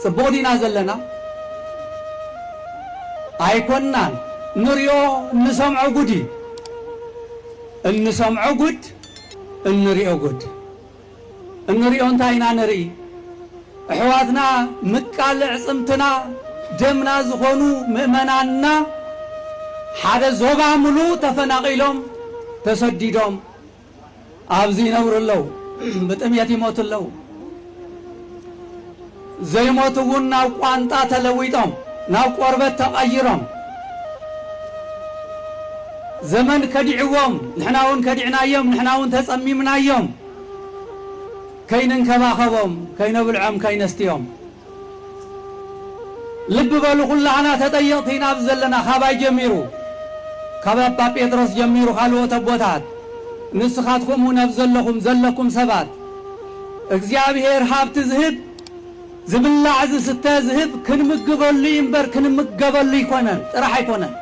ጽቡቅ ዲና ዘለና ኣይኮናን ንሪኦ እንሰምዖ ጉድ እዩ እንሰምዖ ጉድ እንሪኦ ጉድ እንሪኦ እንታይ ኢና ንርኢ እሕዋትና ምቃል ዕጽምትና ደምና ዝኾኑ ምእመናንና ሓደ ዞባ ምሉእ ተፈናቂሎም ተሰዲዶም ኣብዚ ይነብሩ ኣለዉ፣ ብጥሜት ይሞቱ ኣለዉ፣ ዘይሞቱ እውን ናብ ቋንጣ ተለዊጦም ናብ ቆርበት ተቐይሮም ዘመን ከዲዕዎም፣ ንሕና እውን ከዲዕናዮም፣ ንሕና እውን ተጸሚምናዮም፣ ከይንንከባኸቦም፣ ከይነብልዖም፣ ከይነስትዮም ልቢ በሉ ኩላህና ተጠየቅቲ ኢና ኣብዚ ዘለና ካባይ ጀሚሩ ካብ ኣባ ጴጥሮስ ጀሚሩ ካልኦት ኣቦታት ንስኻትኩም እውን ኣብ ዘለኹም ዘለኩም ሰባት እግዚኣብሔር ሃብቲ ዝህብ ዝብላዕ ዝስተ ዝህብ ክንምግበሉ እዩ እምበር ክንምገበሉ ኣይኮነን ጥራሕ ኣይኮነን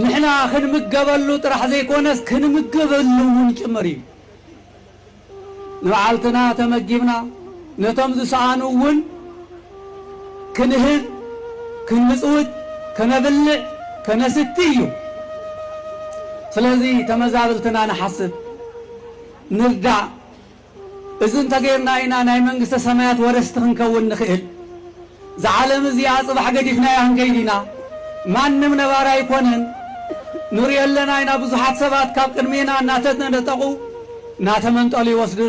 ንሕና ክንምገበሉ ጥራሕ ዘይኮነስ ክንምግበሉ እውን ጭምር እዩ ንባዓልትና ተመጊብና ነቶም ዝሰኣኑ እውን ክንህብ ክንምጽውት ከነብልዕ ከነስቲ እዩ ስለዚ ተመዛብልትና ንሓስብ ንርዳእ እዚ እንተገይርና ኢና ናይ መንግስተ ሰማያት ወረስቲ ክንከውን ንኽእል። እዛ ዓለም እዚኣ ጽባሕ ገዲፍናያ ክንከይድ ኢና ማንም ነባሪ ኣይኮነን ንሪኦ ኣለና ኢና ብዙሓት ሰባት ካብ ቅድሜና እናተነጠቑ እናተመንጠሉ ይወስዱ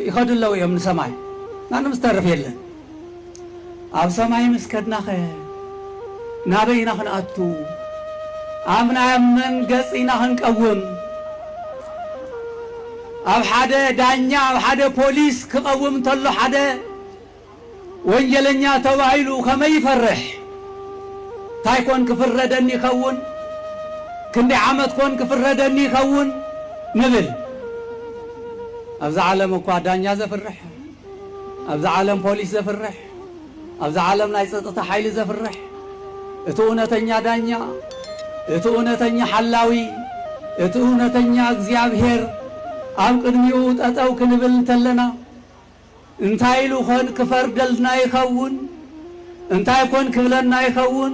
ይኸዱ ኣለዉ እዮም ንሰማይ ማንም ዝተርፍ የለን ኣብ ሰማይ ምስ ከድናኸ ናበይ ኢና ክንኣቱ ኣብ ናይ ኣብ መን ገጽ ኢና ክንቀውም ኣብ ሓደ ዳኛ ኣብ ሓደ ፖሊስ ክቐውም እንተሎ ሓደ ወንጀለኛ ተባሂሉ ከመይ ይፈርሕ? ታይ ኮን ክፍረደኒ ይኸውን? ክንደይ ዓመት ኮን ክፍረደኒ ይኸውን? ንብል። ኣብዛ ዓለም እኳ ዳኛ ዘፍርሕ፣ ኣብዛ ዓለም ፖሊስ ዘፍርሕ፣ ኣብዛ ዓለም ናይ ፀጥታ ሓይሊ ዘፍርሕ፣ እቲ እውነተኛ ዳኛ፣ እቲ እውነተኛ ሓላዊ፣ እቲ እውነተኛ እግዚኣብሄር ኣብ ቅድሚኡ ጠጠው ክንብል እንተለና፣ እንታይ ኢሉ ኾን ክፈርደልና ይኸውን? እንታይ ኮን ክብለና ይኸውን?